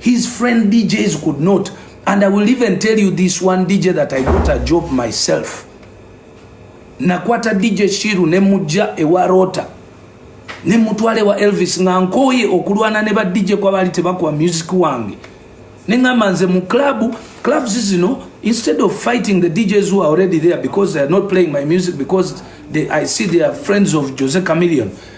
His friend DJs could not. And I will even tell you this one DJ that I got a job myself. Nakwata DJ Shiru ne mujja ewa Rota. Ne mutwale wa Elvis nga nkoye okulwana ne ba DJ kwa bali tebakwa music wange. Ne ngamba nze mu club, clubs zino instead of fighting the DJs who are already there because they are not playing my music because they, I see they are friends of Jose Chameleone.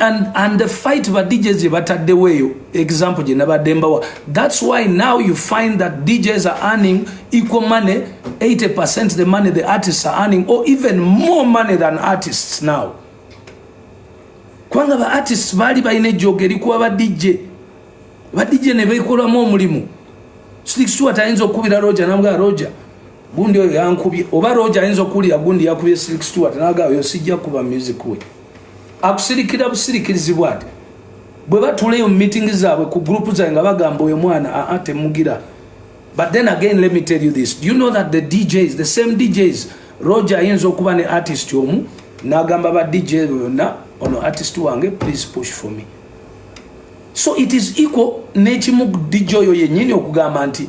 and, and the fight ba DJs gye bataddewo eyo example gye nabadde mbawa that's why now you find that DJs are earning equal money 80% the money the artists are earning or even more money than artists now kubanga ba artists baali balina ejjooga erikuba ba DJ ba DJ ne beekolamu omulimu sixtu atayinza okukubira roja namugala roja gundi oyo yankubye oba roja ayinza okuwulira gundi yakubye silik stewart naga oyo sijja kuba music we akusirikira busirikirizi bwati bwe batuleyo mu meeting zaabwe ku group zaabwe nga bagamba oyo mwana aa ah, ah, temugira but then again let me tell you this do you know that the djs the same djs roja ayinza okuba ne artist omu nagamba ba dj yonna ono artist wange please push for me so it is equal nekimu dj oyo yenyini okugamba nti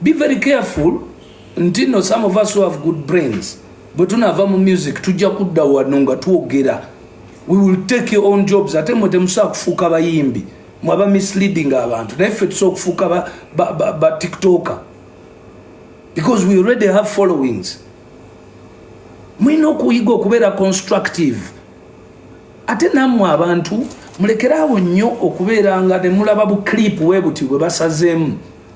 Be very careful nti no some of us who have good brains bwe tunaava mu music tujja kudda wano nga twogera we will take your own jobs ate mwe temusobola kufuuka bayimbi mwaba misleading abantu naye ffe tusobola okufuuka ba, ba, ba, ba tiktoker because we already have followings mulina okuyiga okubeera constructive ate nammwe abantu mulekeraawo nnyo okubeera nga nemulaba bu clip webuti bwe basazeemu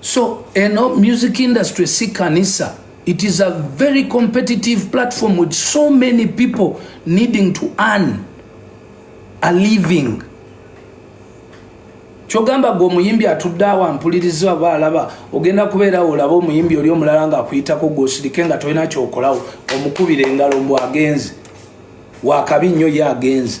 So eno music industry si kanisa. It is a very competitive platform with so many people needing to earn a living. kyogamba gwe omuyimbi atudde awo ampuliriza oba alaba ogenda kubeerawo olaba omuyimbi oli omulala nga akuyitako gwe osirike nga tolina kyokolawo omukubira engalo mbu agenze wakabi nnyo ye agenze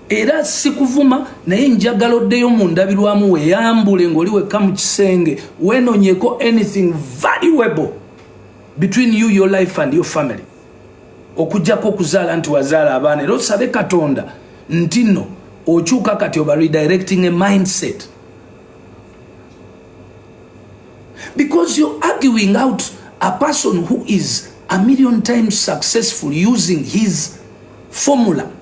era sikuvuma naye njagala oddeyo mu ndabirwamu weyambule ng'oli wekka mu kisenge wenonyeko anything valuable between you your life and your family okujjako okuzaala nti wazaala abaana era osabe katonda nti no okyuka kati oba redirecting a mindset because you're arguing out a person who is a million times successful using his formula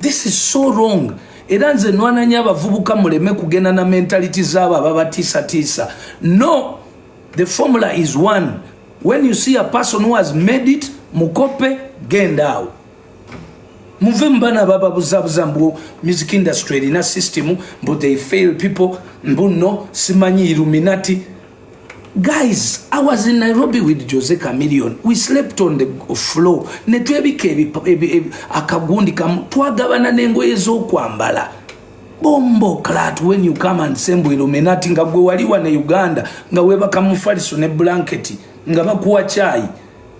This is so wrong. Era nze nwananya abavubuka muleme kugenda na mentality zaabo ababatisatiisa. No, the formula is one. When you see a person who has made it, mukope genda awo. Muve mbana baba buzabuza mbu music industry erina system mbu they fail people mbu no simanyi illuminati guys i was in nairobi with jose camillion we slept on the floor netwebika akagundi kamu twagabana nengoye zokwambala bombo clat when you come and sembu illuminati nga gwe wali wa ne uganda nga webaka mufaliso ne blanketi nga bakuwa chai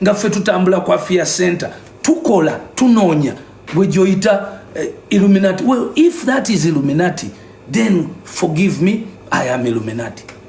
nga fe tutambula kwa fia center tukola tunonya gwe joita uh, eh, illuminati well if that is illuminati then forgive me i am illuminati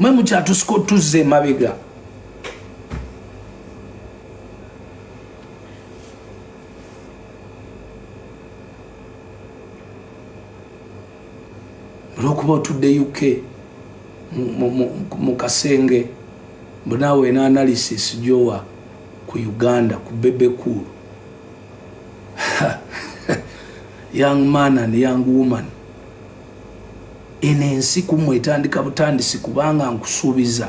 mwe mukyatusuka otuzza emabega olwokuba otudde uk mu kasenge mbunaawe ena analysis gyowa ku uganda ku bebekulu young man and young woman eno ensi ku mmwe etandika butandisi kubanga nkusuubiza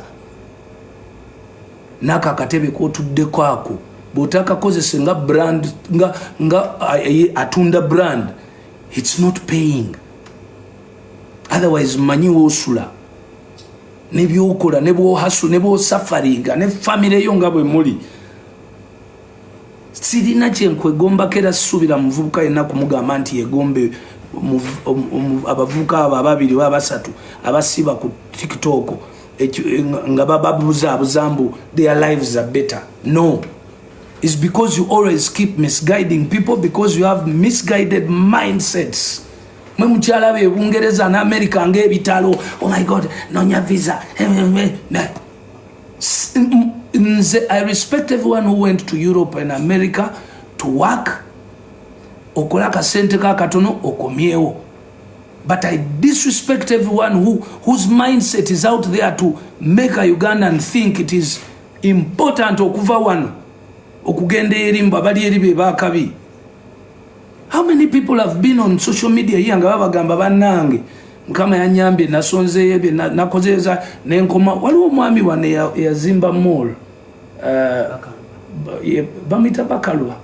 nako akatebe kotuddeko ako bwotakakozese nga brand nga, nga atunda brand its not paying otherwise manyi wosula nebyokola nebwohasu nebwosafaringa ne famire yo nga bwe muli sirina kyenkwegombako era sisuubira muvubuka yenna kumugamba nti yegombe abavubuka abo ababiri oba abasatu abasiba ku tiktok nga bababuzaabuza mbu their lives are better no is because you always keep misguiding people because you have misguided mindsets mwe mukyala be bungereza ne america ngaebitalo oh my god nonya visa eh, eh, eh, nze i respect everyone who went to europe and america to work okola akasente ka katono okomyewo but i disrespect everyone who, whose mindset is out there to make a ugandan think it is important okuva wano okugenda eri mbu abali eri bebakabi How many people have been on social media here nga babagamba banange mukama yanyambye nasonzeyo ebyo nakozeza nenkoma waliwo omwami wane yazimba mall uh, bamita bakalwa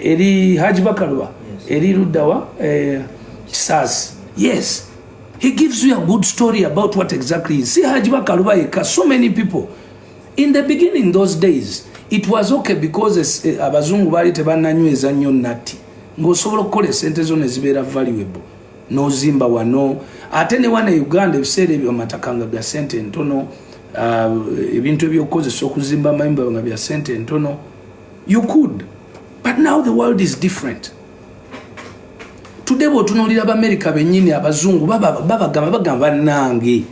eri haji bakalwa eri luddawa eh, kisasi yes he gives you a good story about what exactly see haji bakalwa yeka so many people In the beginning those days it was okay because eh, abazungu baali tebananyweza nnyo natti ng'osobola okukola esente zo ne zibeera valuable n'ozimba wano ate ne wana e uganda ebiseera ebyo amataka nga bya sente entono ah, ebintu ebyokukozesa okuzimba amayumba nga bya sente entono you could but now the world is different tudde bwotunuulira bamerica bennyini abazungu babagamba bagamba banange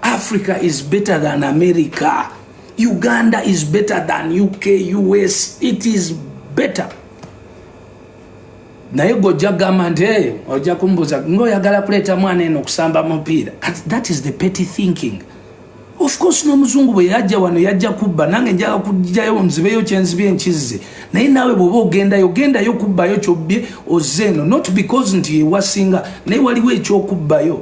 Africa is better than America. Uganda is better than UK, US. It is better. naye gwe ojja kugamba nti eh, ojja kumbuuza ngaoyagala kuleeta mwana eno okusamba mupiira that is the petty thinking of course n'omuzungu bwe yajja wano yajja kubba nange njaga kujjayo nzibeyo kyenzibye nkizze naye naawe bwoba ogendayo ogendayo kubbayo kyobbye ozze eno not because nti ewasinga naye waliwo ekyokubbayo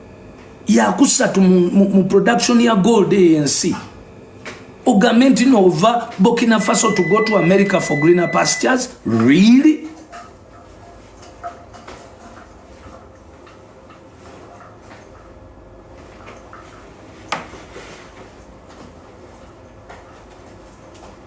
yakusatu mu, mu, mu production ya gold ensi ogambe nti nova burkina faso to go to america for greener pastures really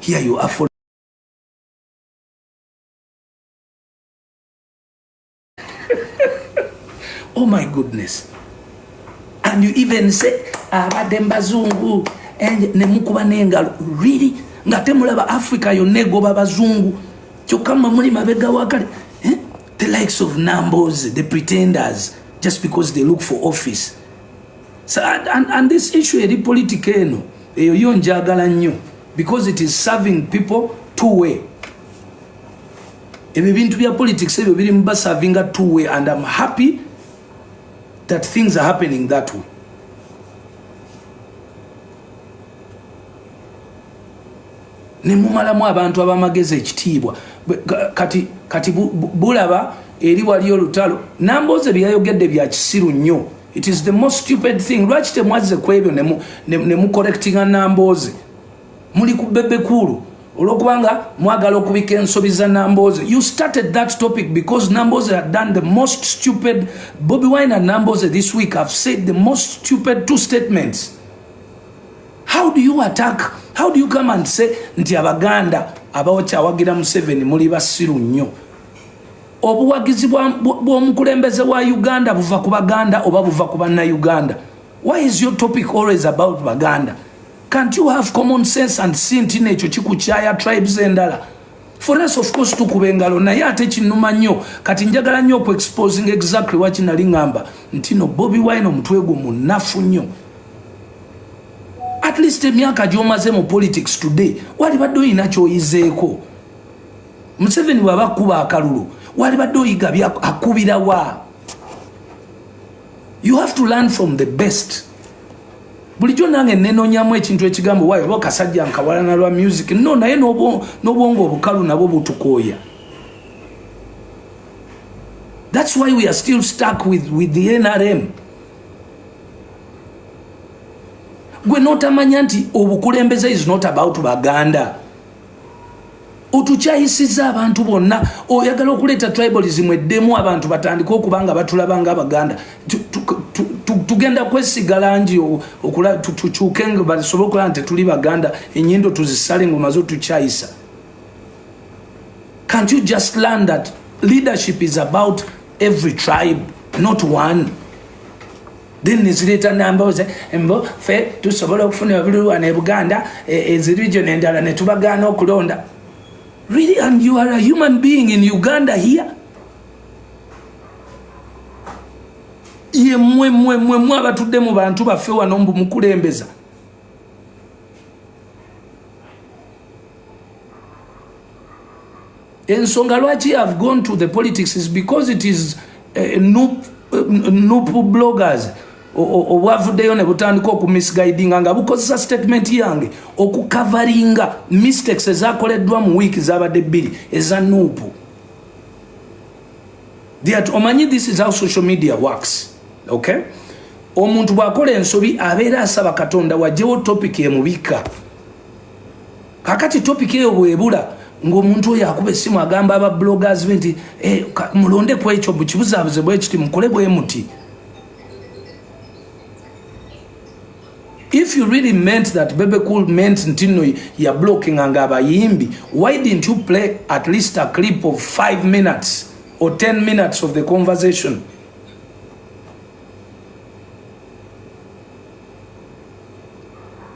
Here you are for Oh my goodness. And you even say abadde mbazungu and ne mukuba n'engalo really nga temulaba Africa yonna egoba bazungu kyokka mwe muli mabega wakale eh? the likes of numbers the pretenders just because they look for office So, and, and, and this issue eri politika eno eyo yo njagala nnyo because it is serving people two way ebyo bintu bya politics ebyo biri mu basavinga two way and am happy that things are happening that way nemumalamu abantu abamagezi ekitiibwa kati, kati bulaba eri waliyo olutalo nambooze byeyayogedde bya kisiru nnyo It is the most stupid thing. Lwaki temwazze ku ebyo ne mu correctinga Nambooze? Muli ku bebe kuulu olwokubanga mwagala okubika ensobi za Nambooze. You started that topic because Nambooze had done the most stupid. Bobi Wine and Nambooze this week have said the most stupid two statements. How do you attack? How do you come and say nti Abaganda abawakyawagira Museveni muli basiru nnyo? obuwagizi bw'omukulembeze wa uganda buva ku baganda oba buva ku bannayuganda why is your topic always about baganda can't you have common sense and si nti nekyo kikukyaya tribes endala for us of course tukuba engalo naye ate kinuma nnyo kati njagala nnyo oku exposing exactly wakinali ngamba nti no bobi wine omutwe gwo munafu nnyo at least emyaka gyomaze mu politics today walibadde olina kyoyizeeko museveni bwaba akuba akalulu walibadde oyiga akubira wa you have to learn from the best bulijjo nange nenonyamu ekintu ekigambo wayo oba kasajja nkawalana lwa music no naye n'obwongo obukalu nabwo butukooya thats why we are still stuck with, with the nrm gwe notamanya nti obukulembeze is not about baganda otukyayisiza abantu bonna oyagala okuleeta tribalism eddemu abantu batandike okuba nga batulaba nga abaganda tugenda kwesiga langi tukyuke nga basobole okulaba nti tuli baganda enyindo tuzisale ngaomaze otukyayisa can't you just learn that leadership is about every tribe not one then nezireeta nambooze mbo fe tusobola okufuna ebululwana e buganda e, ezirijo nendala netubagaana okulonda really and you are a human being in uganda here ye mwe mwe mwe mwe abatudde mu bantu baffe wano mbu mukulembeza ensonga lwaki have gone to the politics is because it is uh, nup, uh, nup bloggers obwavuddeyo ne butandika okumisguidinga nga bukozesa statement yange okukavaringa mistakes ezakoleddwa mu wiiki zabadde bbiri eza nuupu that omanyi this is how social media works okay omuntu bwakola ensobi abeera asaba katonda wajewo topic emubika kakati topic eyo bwebula ng'omuntu oyo akuba essimu agamba aba bloggers be nti eh, mulonde ku ekyo bukibuzaabuze bwe kiti mukole bwe muti if you really meant that bebe cool meant nti nno ya blockinga nga abayimbi why didn't you play at least a clip of five minutes or ten minutes of the conversation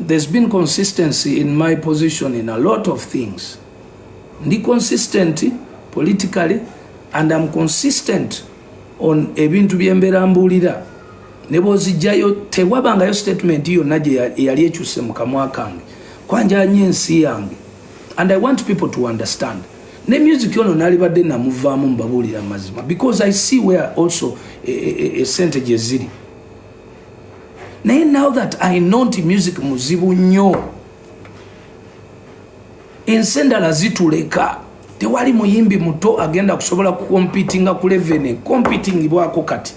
There's been consistency in my position in a lot of things. Ndi consistent politically and I'm consistent on ebintu byembeera mbuulira ne bwozijjayo tewabangayo statement yonna gyeyali ekyuse mu kamwa kange kwanjanya ensi yange and I want people to understand ne music ono nalibadde namuvaamu mbabuulira mazima because I see where also esente e, e, e, gyeziri naye now that i know nti music muzibu nnyo ensi endala zituleka tewali muyimbi muto agenda kusobola kukompitinga ku levene kompitingibwako kati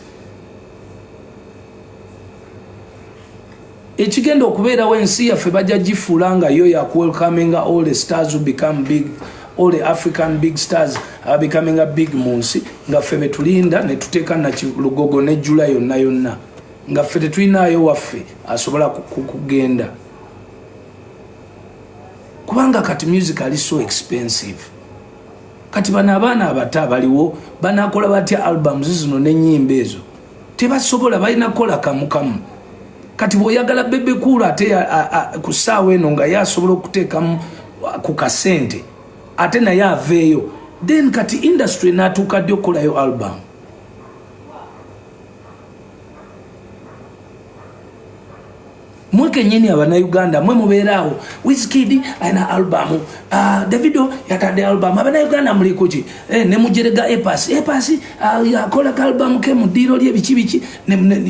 ekigenda okubeerawo ensi yaffe bajja gifuula nga yo yakuwelkaminga all the stars become big all the african big stars are becoming a big mu nsi nga ffe betulinda ne tuteeka nakilugogo ne jula yonna yonna nga ffe tetulinaayo waffe asobola kugenda kubanga kati music ali so expensive kati bano abaana abato abaliwo banakola batya albums zino n'ennyimba ezo tebasobola balina kukola kamukamu kati bwoyagala bebe kuulu ate ku ssaawa eno nga ye asobola okuteekamu ku kasente ate naye aveeyo then kati industry natuuka ddi okukolayo album mwe kenyini abanauganda mwe mubeeraawo wiskid alina albamu uh, ah, davido yatadde albamu abanauganda mulikuki eh, nemujerega epas epas uh, ah, yakola ka albamu ke mu ddiiro lye biki biki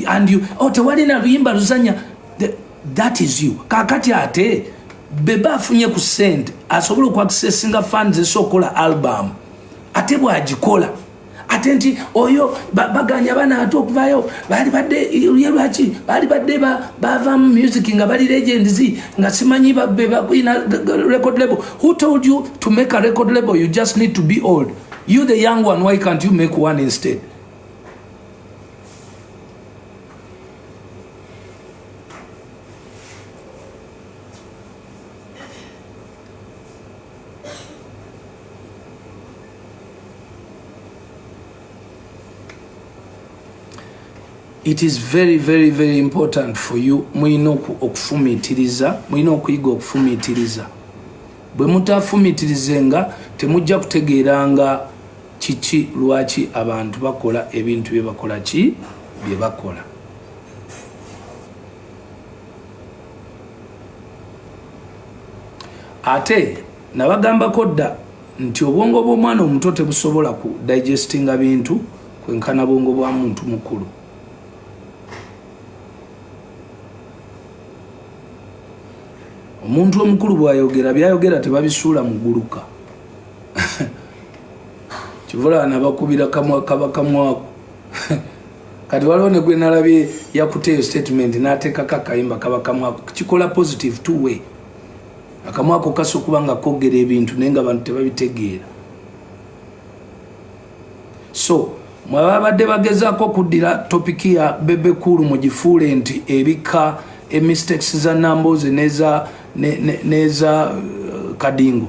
and you oh, tewalina luyimba luzanya that is you kakati ate beba afunye ku sente asobola okuakisesinga fans esokola albamu ate bwagikola ate nti oyo baganya bana ate okuvayo bali badde ye lwaki bali badde bavamu music nga bali legends nga simanyi babbe bakuina record label who told you to make a record label you just need to be old you the young one why can't you make one instead it is very very very important for you mulina okufumitiriza mulina okuyiga okufumitiriza bwe mutafumitirizenga temujja kutegeeranga kiki lwaki abantu bakola ebintu bye bakola ki bye bakola ate nabagambako dda nti obwongo bw'omwana omuto tebusobola ku digestinga bintu kwenkana bwongo bwa muntu mukulu omuntu omukulu bwayogera byayogera tebabisuula muguluka kivula nabakubira kamwa kaba kamwaku kati waliwo negwenalabye yakuteeyo statement nateekako akayimba kaba kamwaku kikola positive two way akamwa ako kasa okuba nga kogera ebintu naye nga abantu tebabitegeera so mwebabadde bagezaako okuddira topiki ya bebe kuulu mu gifuule nti ebika emistakes za namboozi neza ne, ne, neza uh, kadingo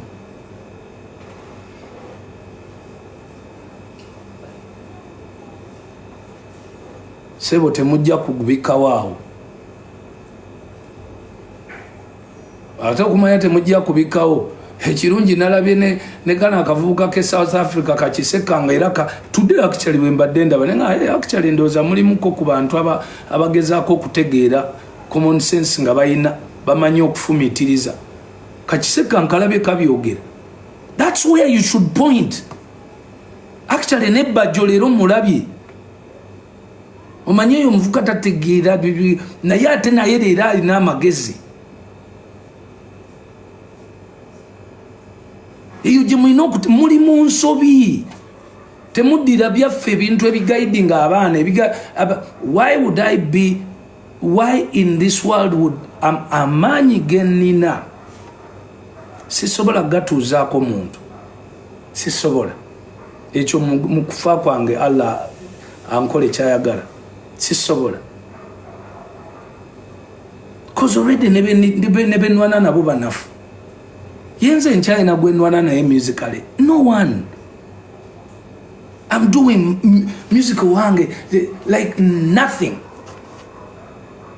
sebo temujja kugubikawaawo ate okumanya temujja kubikawo ekirungi nalabye ne, ne kana akavubuka ke south africa kakisekanga era ka today actually wembadde ndaba naye nga eh, actually ndowooza mulimuko ku bantu aba, abagezaako okutegeera common sense nga balina bamanyi okufumitiriza kakiseka nkalabye kabyogera thats where you should point actually nebajjo leero mulabye omanyi eyo omuvuka tategeera bibi naye ate naye leero alina amagezi eyo gye mulina okuti muli mu nsobi temuddira byaffe ebintu ebigaidi nga abaana why would i be why in this world would amaanyi genina sisobola gatuuzaako muntu sisobola ekyo mu kufa kwange allah ankole kyayagala sisobola bcause already nebenwana nabo banafu yenze nkyalina gwenwana naye musically no one am doing musical wange like nothing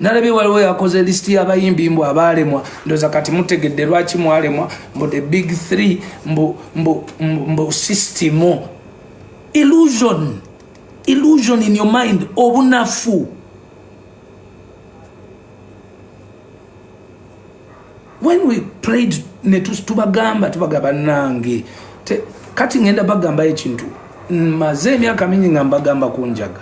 nalabye waliwo yakoze lisiti y'abayimbi mbu abaalemwa ndoza kati mutegedde lwaki mwalemwa mbu the big three mbu, mbu, mbu, mbu system illusion illusion in your mind obunafu when we prayed netubagamba tubagamba nange kati ngenda bagambayo ekintu maze emyaka mingi nga mbagamba kunjaga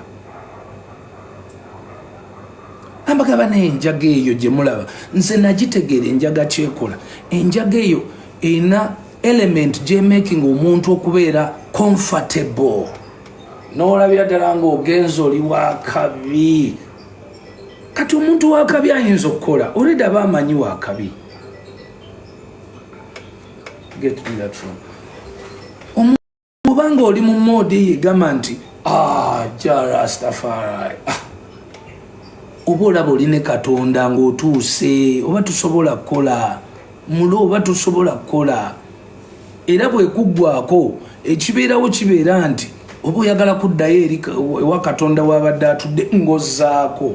ambagaba naye enjaga eyo gye mulaba nze nagitegeera enjaga kyekola enjaga eyo erina element gyemaking omuntu okubeera comfortable n'olabira ddala ng'ogenza oli wakabi kati omuntu wakabi ayinza okukola oledi aba amanyi wakabi get me that from bwoba nga oli mu moodi eyo egamba nti ah, jarastafari ah. oba olaba oli ne katonda ng'otuuse oba tusobola kukola mulo oba tusobola kukola era bwekuggwako ekibeerawo kibeera nti oba oyagala kuddayo eri ewa katonda wabadde atudde ngozaako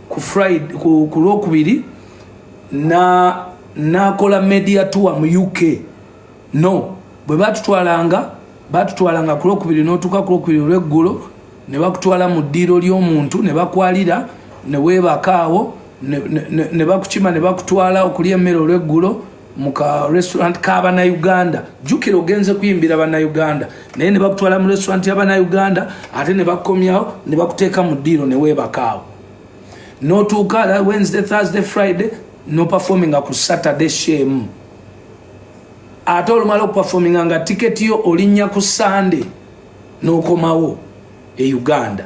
ku friday ku, ku lwokubiri na nakola media tour mu uk no bwe batutwalanga batutwalanga ku lwokubiri notuuka ku lwokubiri olweggulo ne bakutwala mu ddiiro ly'omuntu ne bakwalira ne weebakaawo ne bakukima ne bakutwala okulya emmere olweggulo mu ka restaurant ka bannayuganda jjukira ogenze kuyimbira bannayuganda naye ne bakutwala mu restaurant ya bannayuganda ate ne bakomyawo ne bakuteeka mu ddiiro ne weebakaawo n'otuuka wednesday thursday friday noperforminga ku saturday shemu ate olumala okuperforminga nga tiketi yo olinnya ku sunday n'okomawo e uganda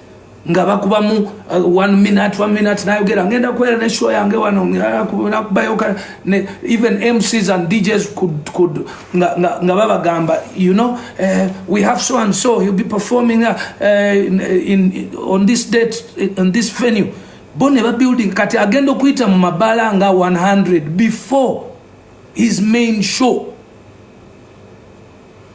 nga bakubamu uh, one minute one minute nayogera ngenda kubeera ne show yange wano nakubayoka ne even mcs and djs could, could, nga, nga, nga babagamba you know uh, we have so and so he'll be performing uh, in, in, on this date on this venue bo ne babuilding kati agenda okuyita mu mabala nga 100 before his main show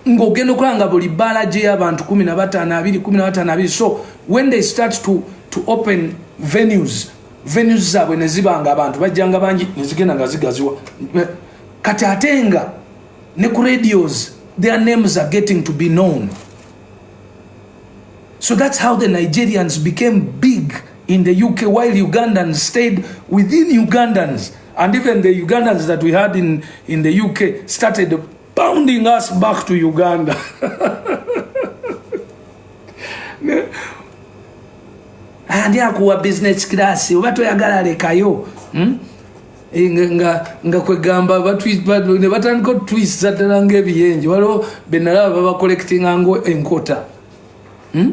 ng'ogenda okulaba nga buli bbaala gy'eyabantu kumi na bataano abiri kumi na bataano abiri so when they start to, to open venues venues zaabwe ne ziba nga abantu bajjanga bangi ne zigenda nga zigaziwa kati ate nga ne ku radios their names are getting to be known so that's how the nigerians became big in the uk while ugandans stayed within ugandans and even the ugandans that we had in, in the uk started bounding us back to Uganda andi akuwa business class oba toyagala lekayo hmm? eh, nga nga kwegamba ne batandika otutwisa ddala ngaebiyenje waliwo benalaba babacollectinga ngo enkota hmm?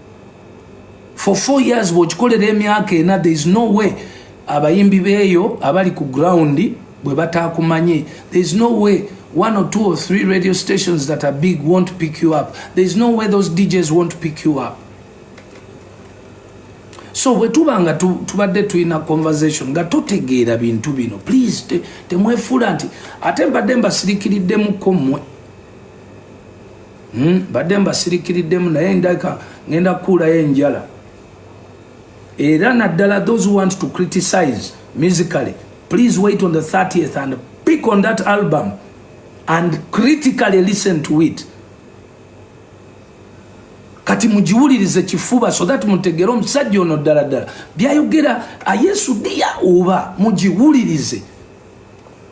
for four years bwokikolera emyaka ena there is no way abayimbi beeyo abali ku ground bwe bataakumanye there is no way one or two or three radio stations that are big won't pick you up there is no way those djs won't pick you up so bwe tuba nga tubadde tulina conversation nga totegeera bintu bino please temwefuula te, nti ate mbadde mbasirikiriddemukko mmwe Hmm, badde mbasirikiriddemu naye ndaka ngenda kukuulayo enjala era naddala those who want to criticize musically please wait on the 30th and pick on that album and critically listen to it kati mugiwulirize kifuba so that mutegere omusajja ono ddala ddala byayogera ayesudiya oba mugiwulirize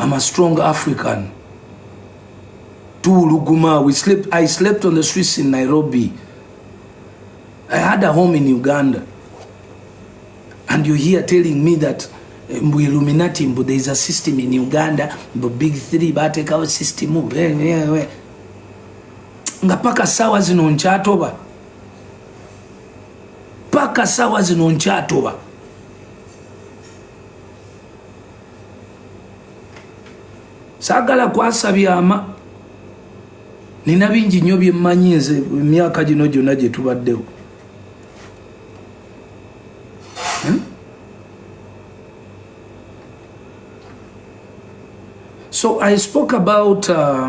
I'm a strong African. Tuluguma, we slept, I slept on the streets in Nairobi. I had a home in Uganda. And you're here telling me that eh, mbu Illuminati, mbu there is a system in Uganda, mbu big three batekawo system, mbu eh, eh, nga paka sawa zino nkyatoba paka sawa zino nkyatoba sagala kwasa byama nina bingi nyo byemmanyi nze emyaka gino gyona gyetubaddewo hmm? so i spoke about uh,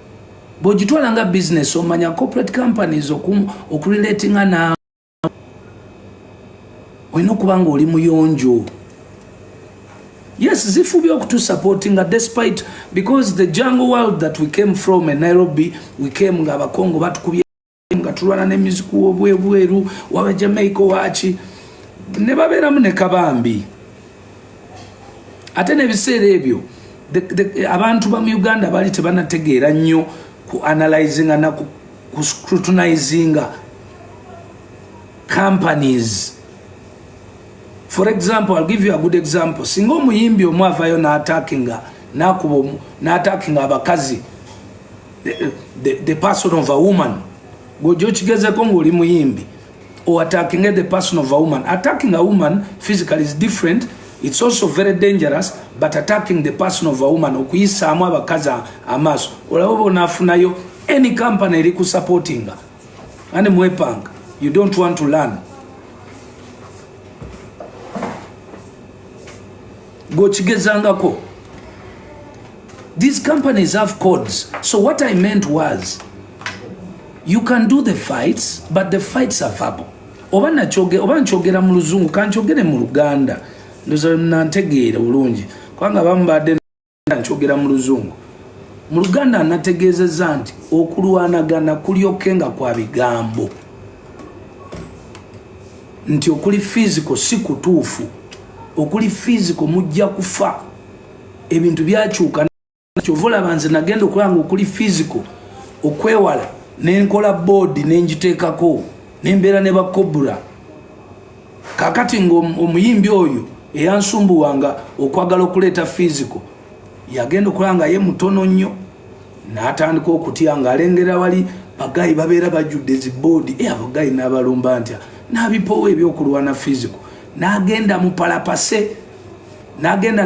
bwogitwala nga business omanya corporate companies okurelatinga naawe olina okuba nga oli muyonjo yes zifubye okutusupportinga despite because the jungle world that we came from e nairobi we came nga abakongo batukubye nga tulwana ne music wo bwe bweru waba Jamaica wachi ne babera mune kabambi ate ne bisere ebyo abantu ba mu Uganda bali tebanategeera nnyo ku analyzing na ku scrutinizing companies for example i'll give you a good example singa omuyimbi omu avayo n'atakinga n'akuba n'atakinga abakazi the, the, the person of a woman gwoja okigezeko ngaoli muyimbi or attacking the person of a woman attacking a woman physically is different it's also very dangerous but attacking the person of a woman okuyisaamu abakazi amaaso olaba bonafunayo any company eri ku supportinga ani mwepanga you don't want to learn gokigezangako These companies have codes. So what I meant was you can do the fights but the fights are verbal. Oba nachoge oba nchogera mu luzungu kanchogere mu Luganda. Ndoza nantegeera bulungi. Kwanga bambade nchogera mu luzungu. Mu Luganda anategeezeza nti okulwanagana kulyokenga kwa bigambo. Nti okuli physical si kutuufu. Okuli physical mujja kufa. ebintu byakyuka kyova olaba nze nagenda okulanga okuli fisico okwewala nenkola boodi nengiteekako nembeera ne bakobura kakati ngaomuyimbi oyo eyansumbuwanga okwagala okuleeta fisico yagenda okulaba nga ye mutono nnyo natandika okutya nga alengera wali bagayi babeera bajjudde ziboodi e eh, abagayi nabalumba ntya nabipoowa ebyokulwana fisico nagenda mupalapase nagenda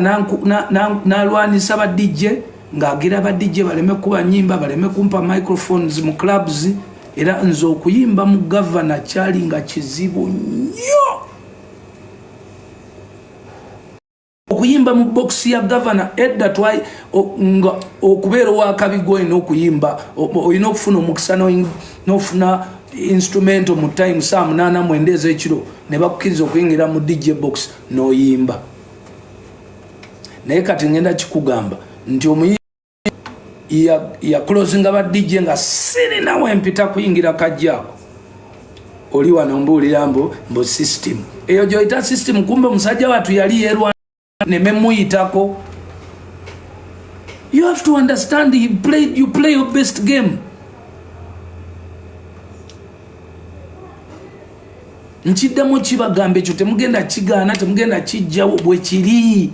nalwanisa ba DJ ng'agira ba DJ baleme kuba nyimba baleme kumpa microphones mu clubs era nze okuyimba mu gavana kyali nga kizibu nnyo okuyimba mu bokisi ya gavana edda twai nga okubeera owakabiga olina okuyimba olina okufuna omukisa nofuna instrumento mu time saa munaana mwenda ezekiro ne bakukiriza okuyingira mu dj box noyimba naye kati ngenda kikugamba nti omuyi yakulozinga ba DJ nga sirina wempita kuyingira kajjaako oli wano mbuulira mbu mbu system eyo gyoyita system kumbe omusajja watu yali yerwa nememuyitako you have to understand you play, you play your best game nkiddamu kibagamba ekyo temugenda kigaana temugenda kijjawo bwe kiri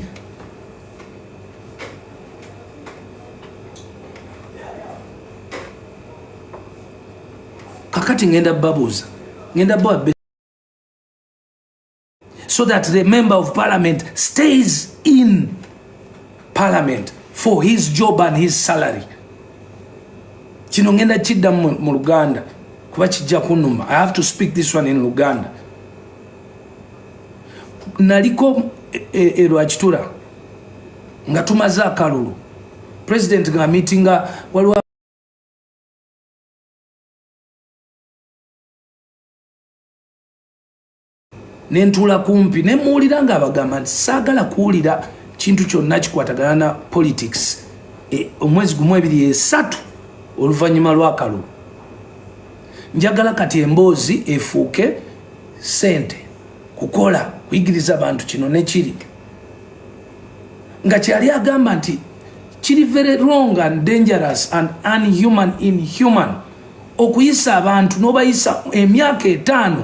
kakati ngenda babuuza ngenda bawa so that the member of parliament stays in parliament for his job and his salary kino ngenda kidda mu luganda kuba kijja kunuma i have to speak this one in luganda naliko erwakitura e, e, e nga tumaze akalulu president nga meetinga waliwo ne ntuula kumpi ne mmuwulira ng'abagamba nti saagala kuwulira kintu kyonna kikwatagana na politics e, omwezi gumu ebiri esatu oluvannyuma lw'akalulu njagala kati emboozi efuuke sente kukola kuyigiriza bantu kino nekiri nga kyeyali agamba nti kiri very wrong and dangerous and unhuman inhuman okuyisa abantu n'obayisa emyaka etaano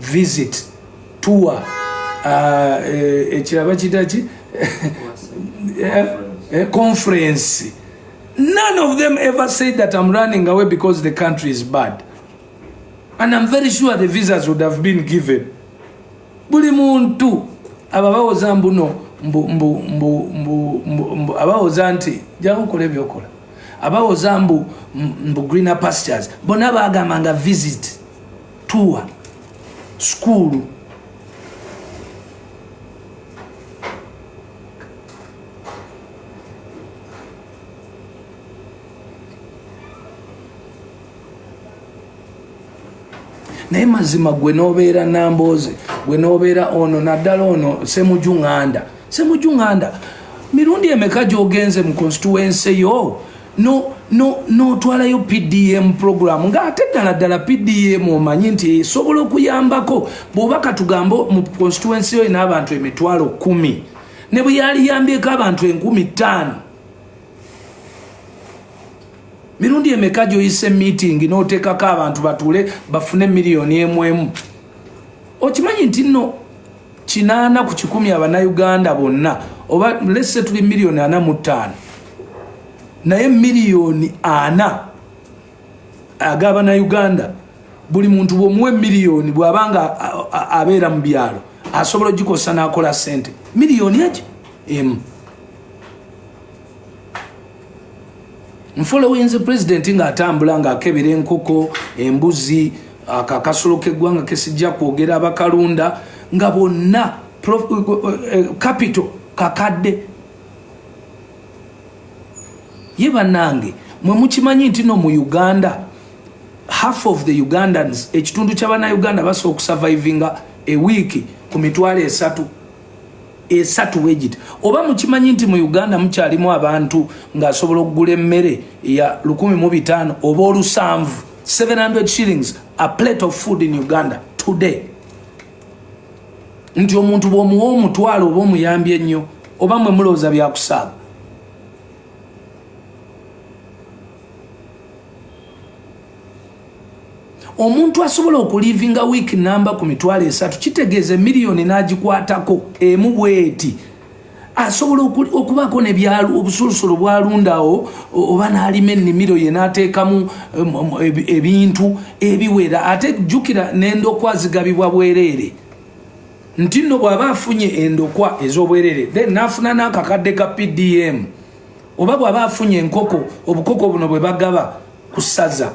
visit tour ah, eh, ekiraba kitaki eh, eh, conference none of them ever said that i'm running away because the country is bad and i'm very sure the visas would have been given buli muntu aba bawoza mbuno abawoza nti jakukola ebyokola abawoza mbu greener pastures bona bagamba nga visit tuwa sukuulu naye mazima gwe nobeera nambooze gwe nobeera ono naddala ono semujunganda semujunganda mirundi emeka gyogenze mu konstituense yo notwalayo pdm program nga ate ddala ddala pdm omanyi nti esobola okuyambako bwoba katugambe mu constituency yo ina abantu emitwalo kumi ne bwe yaliyambyeko abantu enkumi ttaano mirundi emeka gyoyise meeting noteekako abantu batuule bafune miliyoni emu emu okimanyi nti nno kinaana ku kikumi abanauganda bonna oba lese tuli miliyoni ana mu ttaano naye miliyoni ana agabanauganda buli muntu bwomuwe miliyoni bwaba nga abeera mu byalo asobola ogikozesa nakola sente miliyoni eki emu nfolowinzi pulezidenti ng'atambula ng'akebera enkoko embuzi akakasulo k'eggwanga kesijja kwogera abakalunda nga bonna kapito eh, eh, eh, kakadde ye bannange mwe mukimanyi nti no mu uganda half of the ugandans ekitundu ky'abanauganda basobola okusavaivinga ewiiki ku mitwalo esatu esatu wegiti oba mukimanyi nti mu uganda mukyalimu abantu ngaasobola okugula emmere ya lukumi mu bitaano oba olusanvu 700 shillings a plate of food in uganda today nti omuntu bwomuwa omutwalo oba omuyambi ennyo oba mwe mulowooza byakusaaba omuntu asobola okulivinga wiiki namba ku mitwalo esatu kitegeeza emiliyoni n'agikwatako emu bweti asobola okubaako nebyalo obusulusulu bwalundawo oba n'alima ennimiro ye n'ateekamu ebintu ebiwera ate jjukira n'endokwa zigabibwa bwereere nti nno bw'aba afunye endokwa ez'obwereere then n'afuna n'akakadde ka pdm oba bw'aba afunye enkoko obukoko buno bwe bagaba ku ssaza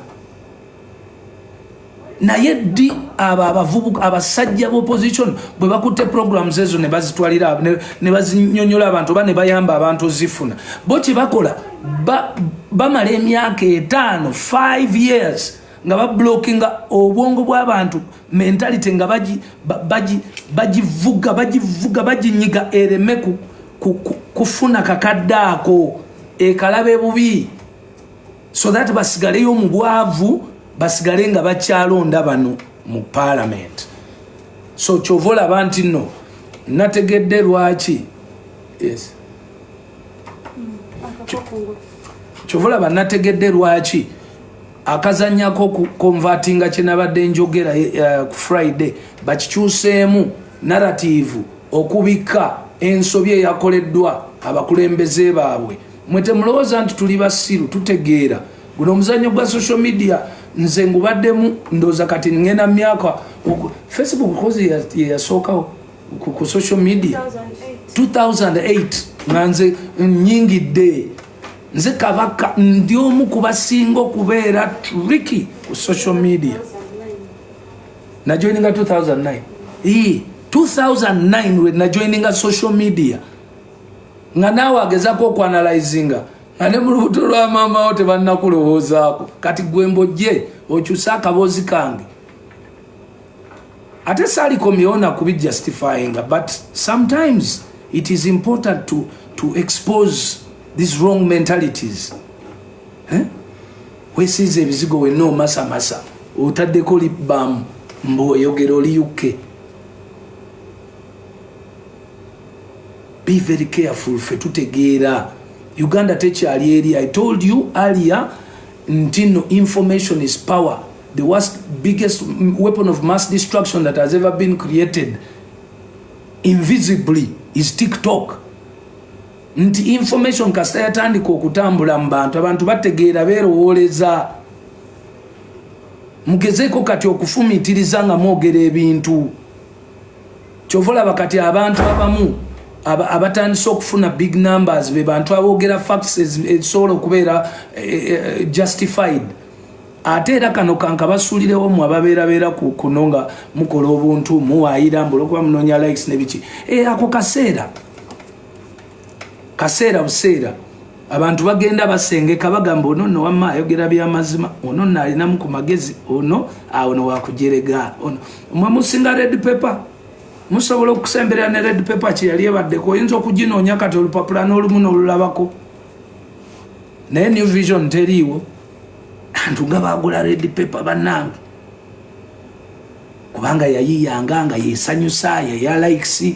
naye ddi abo abavubuka abasajja b'opposition bwe bakutte programs ezo ne bazitwalira ne bazinyonyola abantu oba ne bayamba abantu ozifuna bo kye bakola bamala emyaka etaano 5 years nga bablokinga obwongo bw'abantu mentality nga bagivuga bagivuga baginyiga ereme kufuna kakadde ako ekalaba ebubi so that basigaleyo mu bwavu basigale nga bakyalonda bano mu palamenti so kyova olaba nti no nategedde lwaki yes. kyova olaba nategedde lwaki akazanyako kukonvatinga kyenabadde njogera eh, eh, ku friday bakikyuseemu narativu okubikka ensobi eyakoleddwa abakulembeze baabwe mwe temulowoza nti tuli basiru tutegeera guno omuzanyo gwa social media nze ngubaddemu ndoza kati ngenda myaka facebook kozi yeyasookawo ku social media 2008 nga nze nyingidde nze kabaka ndi omu kubasinga okubeera triki ku social media najoininga 2009 2009 we najoininga social media nga naawe agezako okwanalizinga nga ne mu lubuto lwa maama wo tebannakulowoozaako kati gwe mbojje okyuse akaboozi kange ate saalikomyewo nakubi justifyinga but sometimes it is important to, to expose these wrong mentalities eh? wesiiza ebizigo wenna omasamasa otaddeko libamu mbu oyogera oli yukke be very careful fe tutegeera uganda tekyali eri i told you earlier nti no information is power the worst biggest weapon of mass destruction that has ever been created invisibly is tiktok nti information kasita yatandika okutambula mu bantu abantu bategeera beerowooleza mugezeeko kati okufumiitiriza nga mwogera ebintu kyova olaba kati abantu abamu abatandise okufuna big numbers be bantu aboogera facts ezisobola okubeera eh, eh, eh, justified ate era kano kankabasuulirewo mu ababeerabeera kuno nga mukola obuntu muwaayira mbu olwokuba munoonya likes ne biki e, ako kaseera kaseera buseera abantu bagenda basengeka bagamba ono no wamma ayogera byamazima ono no alinamu ku magezi ono awo no wakujerega ono mwe musinga red paper musobola okusemberera ne red paper kyeyali ebaddeko oyinza okuginoonya kati olupapula n'olumu n'olulabako naye new vision teriiwo antu nga bagula red paper bannange kubanga yayiyanga nga yesanyusa yaya likes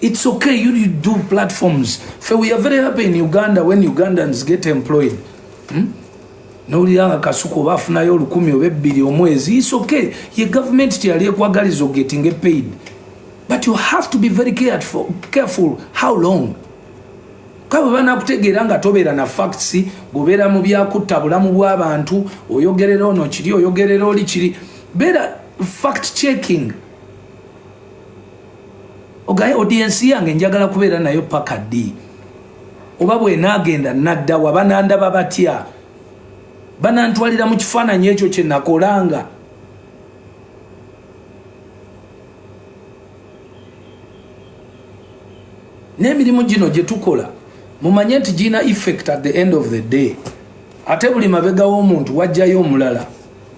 It's okay, you, you do platforms. For we are very happy in Uganda when Ugandans get employed. Hmm? nowuliranga kasuku oba afunayo olukumi oba ebbiri omwezi is okay ye government teyali ekwagaliza ogetinga epaid but you have to be very careful, careful how long kabo banakutegeera nga tobeera na facts gobeera mu byakutta bulamu bw'abantu oyogerera ono kiri oyogerera oli kiri beera fact checking ogaye audience yange njagala kubeera nayo paka ddi oba bwenagenda nadda wa banandaba batya banantwalira mu kifaananyi ekyo kye nakolanga n'emirimu gino gye tukola mumanye nti girina effect at the end of the day ate buli mabega w'omuntu wajjayo omulala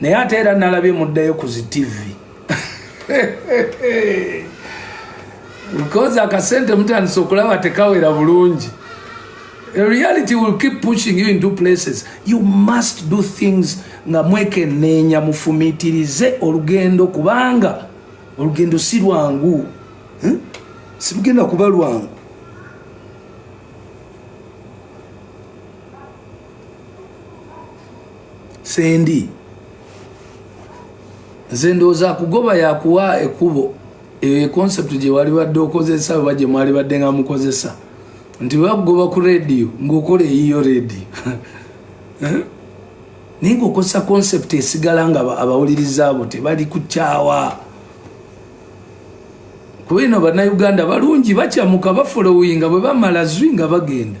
naye ate era nalabye muddayo ku zi tivi because akasente mutandise okulaba tekawera bulungi reality will keep pushing you into places you must do things nga mwekeneenya mufumitirize olugendo kubanga olugendo si lwangu hmm? silugenda kuba lwangu sendi nze ndowooza kugoba yakuwa ekubo eyo econcept gyewali badde okozesa oba gyemwali badde nga mukozesa nti webakugoba ku rediyo ngaokola eyiyo rediyo eh? naye ngaokozesa concept esigala nga abawuliriza abo tebali kukyawa kuba eno banauganda balungi bakyamuka bafolowinga bwebamala zwi nga bagenda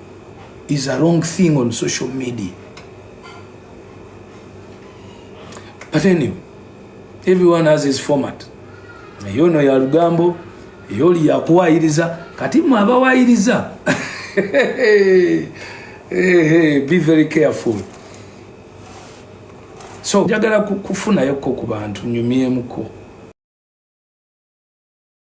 is a wrong thing on social media. But anyway, everyone has his format. Eyo no ya lugambo, eyo li ya kuwairiza, kati mwa bawairiza. hey, hey, be very careful. So, jagala kufuna yoko kubantu, nyumie mko.